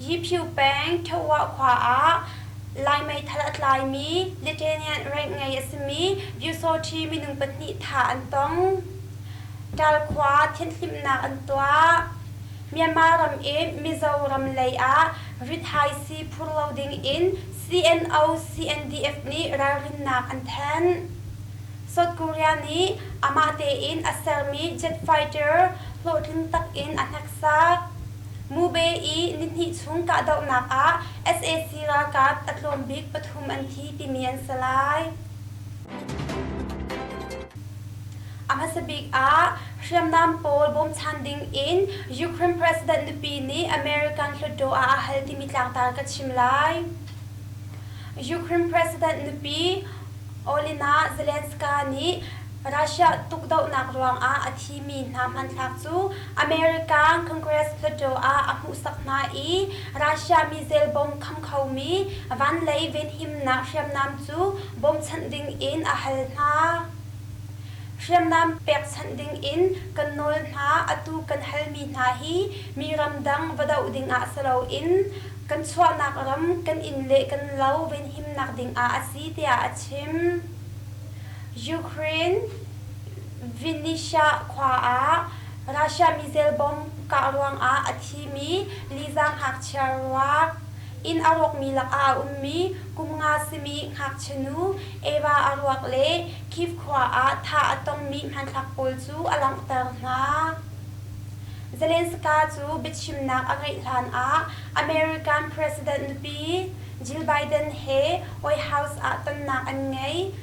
Hiphiu peng Ṭhawah khua ah Lai meithal a tlaimi Lithuanian rank ngei a simi Vyusauṭhi minung pahnih thah an tong. Ṭal khua thianhhlimhnak an tuah. Myanmar ram i Mizoram lei ah rithaisi phur lo ding in CNO CNDF nih ralrinnak an thanh. South Korea nih amah tein a sermi jet fighter hlawhtling tak in a hneksak. Mube i nihnih chung kahdohnak ah sac ralkap a tlawm bik pathum an thi timi an si lai. A hmasa bik ah hriamnam pawl bawmchan ding in Ukraine President nupi nih American Hluttaw ah a hal timi tlangtar ka chim lai. Ukraine President nupi Olena Zelenska nih Russia tukdohnak ruangah a thimi hna hmanthlak cu America Congress Plateau ah a hmuhsak hna i Russia mizel bom kham khomi vanlei venhimnak hriamnam cu bawmchanh dingin a hal hna. Hriamnam pekchanh dingin kan nawl hna atu kan halmi hna hi mi ramdang va doh dingah si loin kan chuahnak ram kan inn le kan lo venhimnak dingah a si tiah a chim. Ukraine Vinnytsia khua ah Russia missile bomb kah ruangah a thimi lizang ngakchia ruak inn a rawkmi lakah a ummi kum nga simi ngakchianu Eva a ruak le Kyiv khua ah thah a tongmi hmanthlak pawl cu a langhter hna. Zelensky cu biachimnak a ngeih hlanah American President nupi Jill Biden he White House ah tonnak an ngei.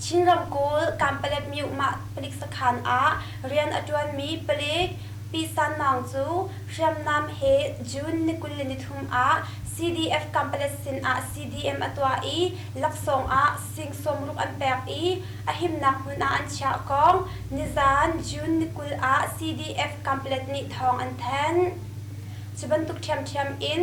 Chin ramkulh Kanpaletmyuh mah palik sakhan ah rian a ṭuanmi palik Pi San Maung cu hriamnam he June ni kul le nithum ah CDF Kanpalet sin ah CDM a tuah i laksawng ah sing sawmruk an pek i a himnak hmun ah an chiah kong nizan June ni kul ah CDF Kanpalet nih thawng an thanh. Cu bantuk ṭhiamṭhiam in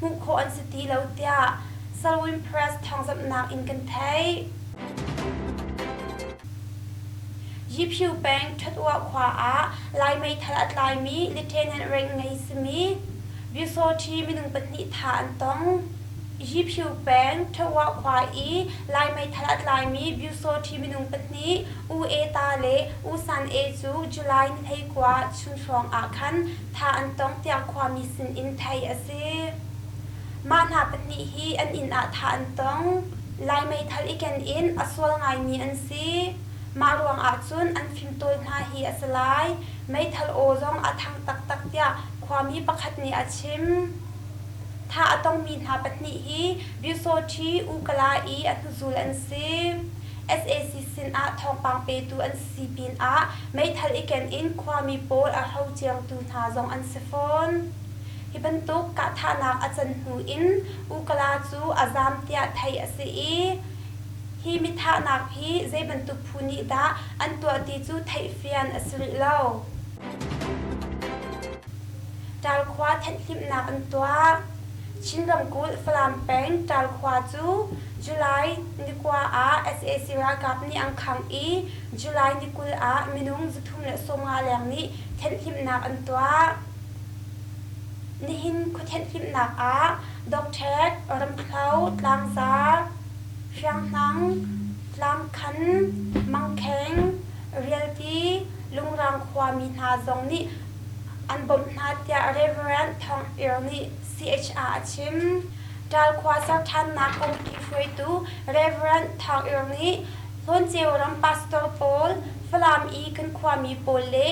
hmuh khawh an si ti lo tiah Salween Press thawngzamhnak in kan theih. Yiphew peng Ṭhatua khua ah Lai meithal a tlaimi lieutenant rank ngei simi Byusawṭhi minung pahnih tha an tong. Yiphew peng Ṭhatua khua i Lai meithal a tlaimi Byusawṭhi minung pahnih U E Ta le U San E cu July ni hlei kua chun hrawng ah khan Thla an cong tiang khuami sinin theih a si. Mah hna pahnih hi an inn ah thla an cong. Lai meithal i ken in a sual ngaimi an si. Mah ruangah cun an fimtawi hna hi a si lai. Meithal aw zong a thang taktak tiah khuami pakhat nih a chim. Thla a congmi hna pahnih hi Byusawṭhi, Ukala i a hnuzul an si. SAC sinah thawngpang petu an si. Sipin ah meithal i ken in khuami pawl a hlo ciangtu hna zong an si fawn. Hi bantuk kahthahnak a can hnu in Ukala cu a zaam tiah theih a si i, hi mithahnak hi zei bantuk phu nih dah an tuah ti cu theih fian a si rih lo. Ṭalkhua thenhhlimhnak an tuah. Chin ramkulh Falam peng Ṭalkhua cu July ni kua ah sac ralkap nih an khangh i July ni kul ah minung zu thum le sawmnga leng nih thenhhlimhnak an tuah. Nihin khua thenhhlimhnak ah Docṭhet, Ramthlo, Tlangza, Hrianghnang, Tlangkhan, Mangkheng, Rialti, Lungrang khuami hna zong nih an bawmh hna tiah Rev. Thawng Ir nih CHR a chim. Ṭalkhua serṭhannak kongpi hruaitu Rev. Thawng Ir nih Hlawnceu ram pastor pawl, Falam i kan khuami pawl le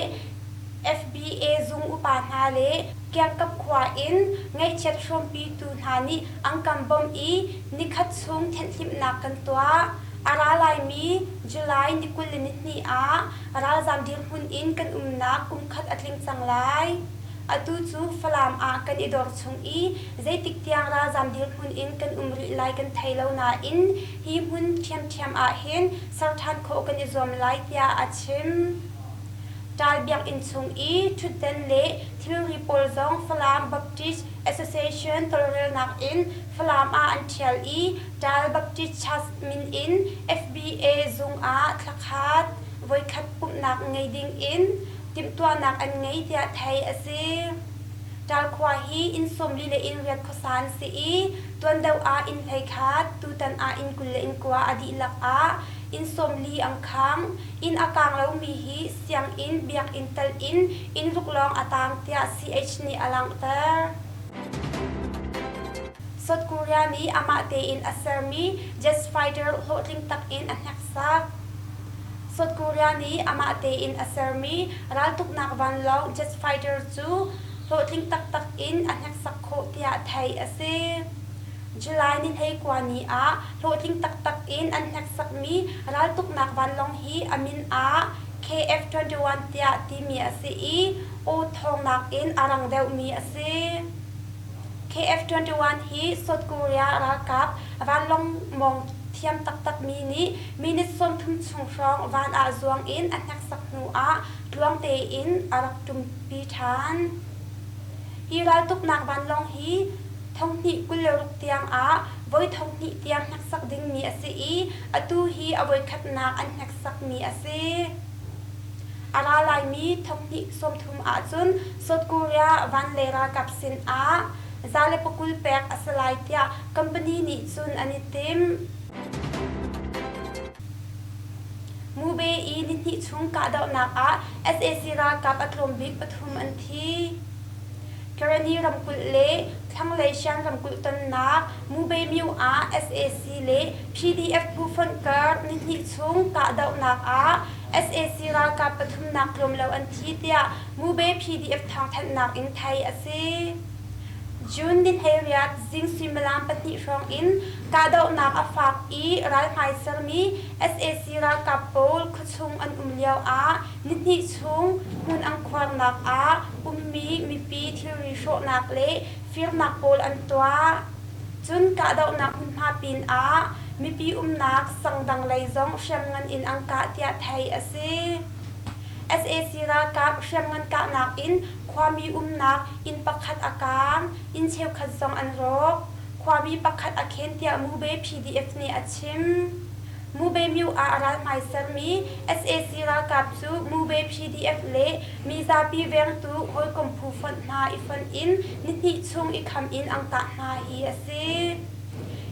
FBA zung upa hna le kiangkap khua in ngaihchiat hrawmpitu hna nih an kan bawmh i nikhat chung thenhhlimhnak kan tuah. A ra laimi July ni kul le nihnih ah Ralzaam dirhmun in kan umnak kum khat a tling cang lai. Atu cu Falam ah kan i dor chung i zeitik tiang ralzaam dirhmun in kan um rih lai kan thei lo nain hi hmun ṭhiamṭhiam ah hin ser ṭhan khawh kan i zuam lai tiah a chim. Ṭal biakinn chung i ṭhutdan le thilri pawl zong Falam Baptist Association tawlrelnak in Falam ah an ṭhial i Ṭaal Baptist Church min in FBA zung ah thlakhat voikhat pumhnak ngei ding in timhtuahnak an ngei tiah theih a si. Ṭaal khua hi inn sawmli le inn riat khuasa an si i tuandoh ah inn hleikhat, tutan ah inn kul le inn kua a dihlak ah inn sawmli ang khang. Inn a kaang lomi hi sianginn biakinn tal in inn ruk lawng a taang tiah CH nih a langhter. South Korea nih amah tein a sermi jet fighter hlawhtling tak in a hneksak. South Korea nih amah tein a sermi raltuknak vanlawng jet fighter cu hlawhtling taktak in a hneksak khawh tiah theih a si. July ni hlei kua ni ah hlawhtling taktak in an hneksakmi raltuknak vanlawng hi a min ah KF-21 tiah timi a si i aw thawng nakin a rang deuhmi a si. KF21 hi South Korea ralkap vanlawngmawng thiam taktakmi nih minute sawmthum chung hrawng van ah zuang in a hneksak hnu ah tluang tein a rak ṭumpi ṭhan. Hi raltuknak vanlawng hi thonghnih kul le ruk tiangah voi thonghnih tiang hneksak dingmi a si i atu hi a voikhatnak an hneksakmi a si. A ra laimi thonghnih sawmthum ahcun South Korea van le ralkap sinah za le pakul pek a si lai tiah company nih cun an i tim. Mube i nihnih chung kahdohnak ah sac ralkap a tlawm bik pathum an thi. Karani ramkulh le thlanglei Shan ramkulh tonnak Mubemyu ah sac le PDF phu fonhkar nihnih chung kahdohnak ah sac ralkap pathumnak tlawm lo an thi tiah Mube PDF thawngthanhnak in theih a si. June ni hleiriat zing suimilam pahnih hrawng in kahdohnak a faak i ralhmai sermi sac ralkap pawl khuachung an um lioah nihnih chung hmun angkhuarnak ah ummi mipi thilri hrawhnak le firnak pawl an tuah. Cun kahdohnak hmunhma pin ah mipi umnak sangdang lei zong hriamngan in an kah tiah theih a si. sac ralkap hriamngan kahnak in khuami umnak inn pakhat a kaang, inn cheukhat zong an rawk. Khuami pakhat a khen tiah Mube PDF nih a chim. Mube myu ah ral hmai sermi sac ralkap cu Mube PDF le Mizapi vengtu hawikom phu fonh hna i fonh in nihnih chung i kham in ang tah hna hi a si.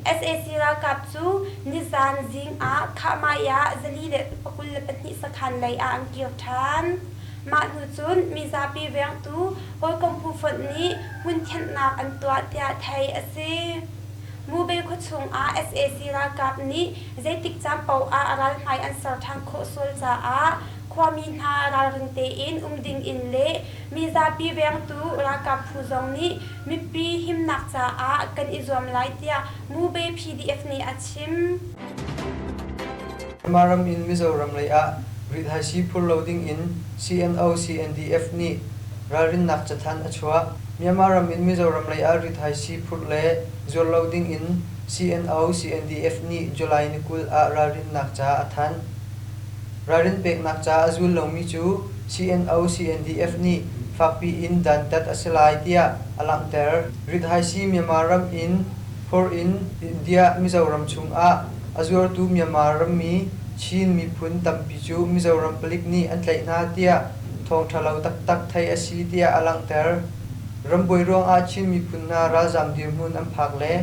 Sac ralkap cu nizan zing ah Khahmai ah zali le pakul le pahnih sakhan lei ah an kir ṭhan. Mah hnu cun mizapi vengtu hawikom phu fonh nih hmun thianhnak an tuah tiah theih a si. Mubei khuachung ah sac ralkap nih zeitik caan paoh ah ralhmai an ser ṭhan khawh sual caah Khuami hna ralring tein um dingin le mizapi vengtu ralkap phu zong nih mipi himnak caah kan i zuam lai tiah Mube PDF nih a chim. Myanmar ram in Mizoram lei ah rithaisi phur lo dingin CNO-CNDF nih ralrinnak cathanh a chuah. Myanmar ram in Mizoram lei ah rithaisi phurh le zuar lo dingin CNO-CNDF nih July ni kul ah ralrinnak ca a thanh. Ralrin peknak ca a zul lomi cu CNO CNDF nih fakpi in dantat a si lai tiah a langhter. Rithaisi Myanmar ram in phur in India Mizoram chungah a zuartu Myanmar rammi Chin miphun tampi cu Mizoram palik nih an tlaih hna tiah thawngṭhalo taktak theih a si tiah a langhter. Rambuai ruangah Chin miphun hna ralzaam dirhmun an phak le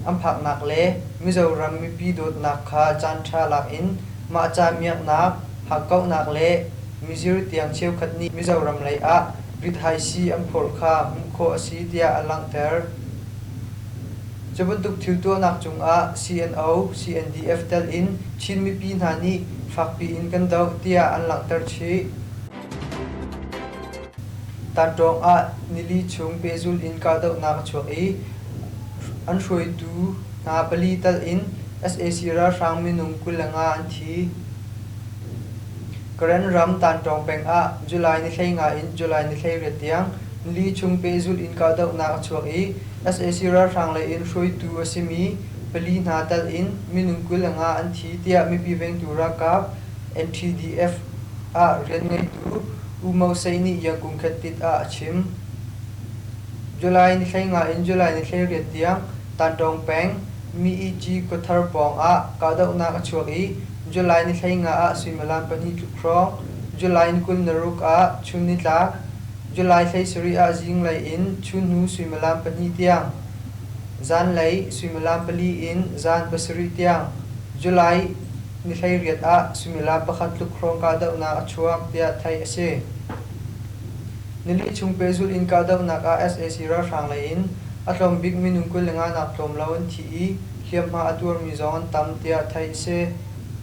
an phaknak le Mizoram mipi dawtnak kha caanṭha lakin Mah ca miaknak, hakkauhnak le mizir tiang cheukhat nih Mizoram lei ah rithaisi an phawr kha hmuh khawh a si tiah a langhter. Cu bantuk thil tuahnak cungah CNO, CNDF telh in Chin mipi hna nih fakpi in kan doh tiah an langhter chih. Tanṭawng ah nili chung pehzulh in kahdohnak a chuak i an hruaitu hna pali tal in sac ralhrang minung kul le nga an thi. Karen ram Tanṭawng peng ah July ni hlei nga in July ni hleiriat tiang nili chung pehzulh in kahdohnak a chuak i sac ralhrang lei in hruaitu a simi pali hna tal in minung kul le nga an thi tiah mipi vengtu ralkap NTDF ah rianngeitu U Mo Say nih Iang Kung Khetit ah a chim. July ni hlei nga in July ni hlei riat tiang Tantawng peng Mi-i-ji kawthar pawng ah kahdohnak a chuak i July ni hlei nga ah suimilam pahnih tluk hrawng, July ni kul naruk ah chun nitlak, July hlei sarih ah zinglei in chunhnu suimilam pahnih tiang, zanlei suimilam pali in zan pasarih tiang, July Nihleiriat ah suimilam pakhat tluk hrawng kahdohnak a chuak tiah theih a si. Nili chung pehzulh in kahdohnak ah sac ralhrang lei in a tlawm bik minung kul le nga nak tlawm lo an thi i hliamhma a tuarmi zong an tam tiah theih a si.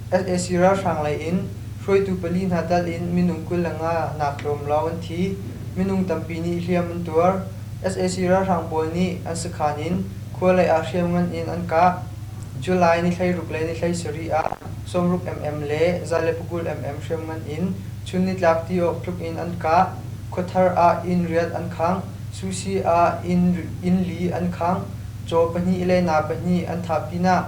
sac ralhrang lei in hruaitu pali hna tal in minung kul le nga nak tlawm lawng an thi. Minung tampi nih hliam an tuar. sac ralhrang pawl nih an sakhan in Khua lei ah hriamngan in an kah. July ni hleiruk le ni hleisarih ah sawmruk mm le za le pakul mm hriamngan in chun nitlak ti awk tluk in an kah. Khuathar ah inn riat an khangh. Susi ah inn li an khangh. Caw pahnih le naa pahnih an thah pinah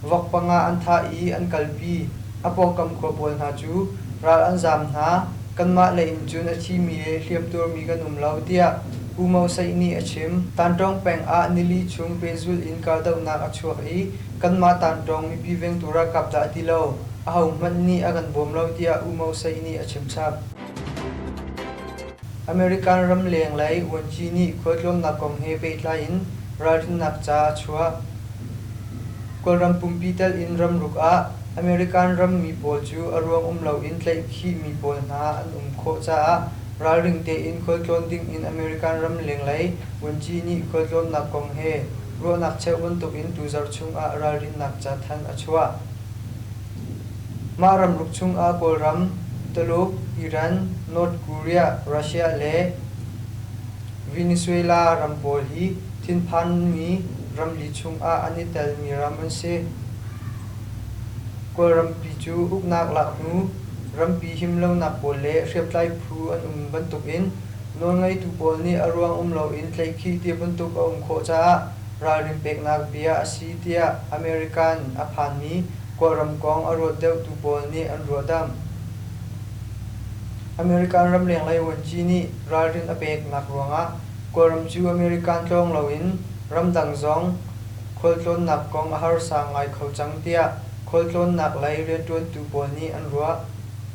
vok panga an thah i an kalpi. A pawngkam khua pawl hna cu ral an zaam hna. Kanmah lei in cun a thimi he hliamtuarmi kan um lo, tiah Pu Mo Saih nih a chim. Tanṭawng peng ah nili chung pehzulh in kahdohnak a chuak i kanmah Tanṭawng mipi vengtu ralkap dah ti lo ahohmanh nih a kan bawm lo tiah U Mo Saih nih a chimchap. American ramleng lei vuanci nih khualtlawnnak kong he pehtlai in ralrinnak ca a chuah. Kawlram pumpi telh in ramruk ah American rammi pawl cu a ruang um loin tlaihkhihmi pawl hna an um khawh caah ralring tein khualtlawn dingin American ram lenglei vuanci nih khualtlawnnak kong he ruahnak cheuh bantukin tu zarh chungah ralrinnak ca thanh a chuah. Mah ramruk chungah Kawlram, Tuluk, Iran, North Korea, Russia le Venezuela ram pawl hi thinphanmi ramli chungah an i telmi ram an si. Kawlrampi cu uknak laknu, rampi him lonak pawl le hriamtlai phu an um bantukin nawlngeitu pawl nih a ruang um loin tleihkhih ti bantuk a um khawh caah ralrin peknak bia a si tiah American a phanmi Kawlram kong a ruat deuhtu pawl nih an ruahdamh. American ramlenglei vuanci nih ralrin a peknak ruangah Kawlram cu American tlawng loin ramdang zong khualtlawnnak kong a harsa ngai kho cang tiah khualtlawnnak lei rianṭuantu pawl nih an ruah.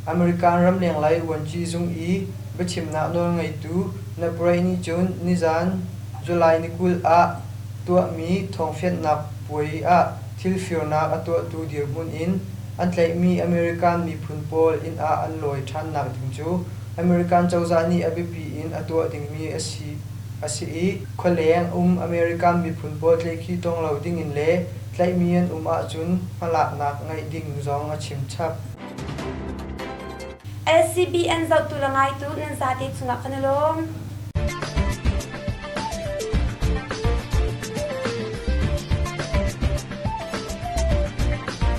American ramleng lei vuanci zung i biachimnak nawlngeitu Naprey nih cun nizan July ni kul ah tuahmi thawngfianhnak puai ah thilfirnak a tuahtu dirhmun in an tlaihmi American miphun pawl inn ah an lawi ṭhannak ding cu American cozah nih a biapi in a tuah dingmi a si a si i khualeng um American miphun pawl tleikhi tawng lo dingin le tlaihmi an um ahcun hmalaknak ngeih ding zong a chim chap. SCBN zohtu le ngaitu nan zate chungah kan i lawm.